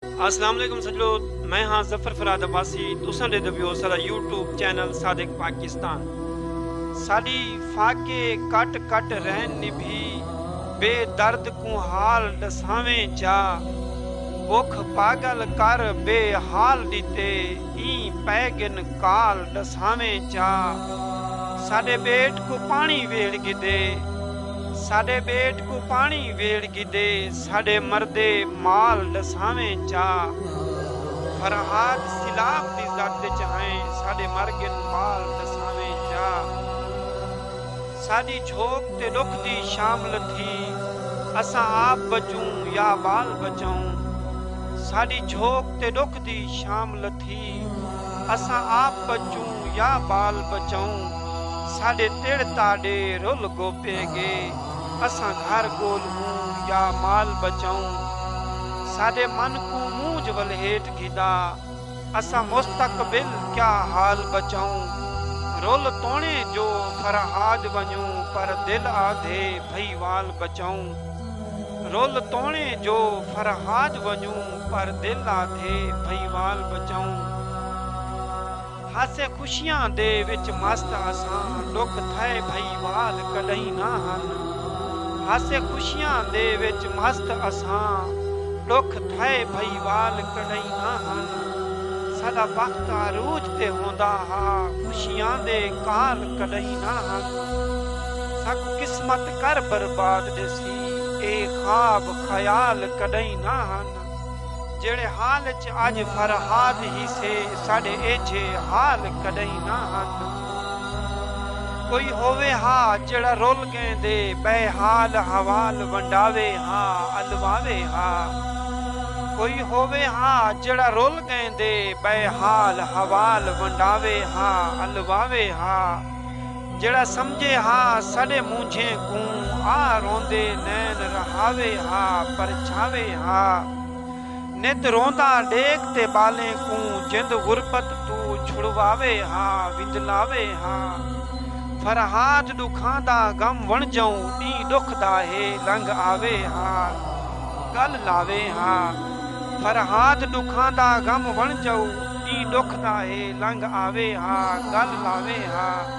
السلام علیکم سجڑو میں ہاں ظفر فراد عباسی تساں ڈیندے پیو سارا یوٹیوب چینل صادق پاکستان ساڈی فاقے کٹ کٹ رہن نبھی بے درد کوں حال ڈساویں جا بکھ پاگل کر بے حال ڈیتے این پے گن کال ڈساویں جا ساڈے بیٹ کو پانی ویڑ گدے ساڈے بیٹ کو پانی ویڑ گدے ساݙے مردے مال ݙساویں چا فرہاد سیلاب دی زد وچ ہئیں ساݙے مر ڳن مال ݙساویں چا ساݙی جھوک تے ݙکھ دی شام لتھی اساں آپ بچوں یا ٻال بچاؤں ساݙی جھوک تے ݙکھ دی شام لتھی اساں آپ بچوں یا ٻال بچاؤں ساݙے تڑ تاݙے رل گوپے ڳے۔ اساں گھر گولھوں یا مال بچاؤں ساڈے من کوں مونجھ ولھیٹ گھدا اساں مستقبل کیا حال بچاؤں رول تونے جو فرہاد ونجوں پر دل آدھے بھئی وال بچاؤں رول تونے جو فرہاد ونجوں پر دل آدھے بھئی وال بچاؤں۔ ہاسے خوشیاں دے وچ مست اساں ڈکھ تھئے بھئی وال کڈہیں نہ ہن ہاسے خوشیاں دے وچ مست اساں ڈکھ تھئے بھئی وال کڈہیں نہ ہن ساڈا بخت عروج تے ہوندا ہا خوشیاں دے کال کڈہیں نہ ہن ساکوں قسمت کر برباد ڈیسی اے خواب خیال کڈہیں نہ ہن۔ جیڑھے حال اچ اج فرہاد ہی سے ساڈے ایجھے حال کڈہیں نہ ہن کوئی ہووے ہا جیڑھا رول گئیں دے بے حال حوال ونڈاوے ہا الواوے ہا کوئی ہووے ہا جیڑھا رول گئیں دے بے حال حوال ونڈاوے ہا الواوے ہا جیڑھا سمجھے ہا ساݙے مونجھیں کوں آ روندے نین رہاوے ہا پرچھاوے ہا نت روندا ݙیکھ تے ٻالیں کوں جند غربت توں چھڑواوے ہا وندلاوے ہا فرہاد ݙکھاں دا غم وݨجئوں ݙینہہ ݙکھ دا ہے لنگھ آوے ہا ڳل لاوے ہا فرہاد ݙکھاں دا غم وݨجئوں ݙینہہ ݙکھ دا ہے لنگھ آوے ہا ڳل لاوے ہا۔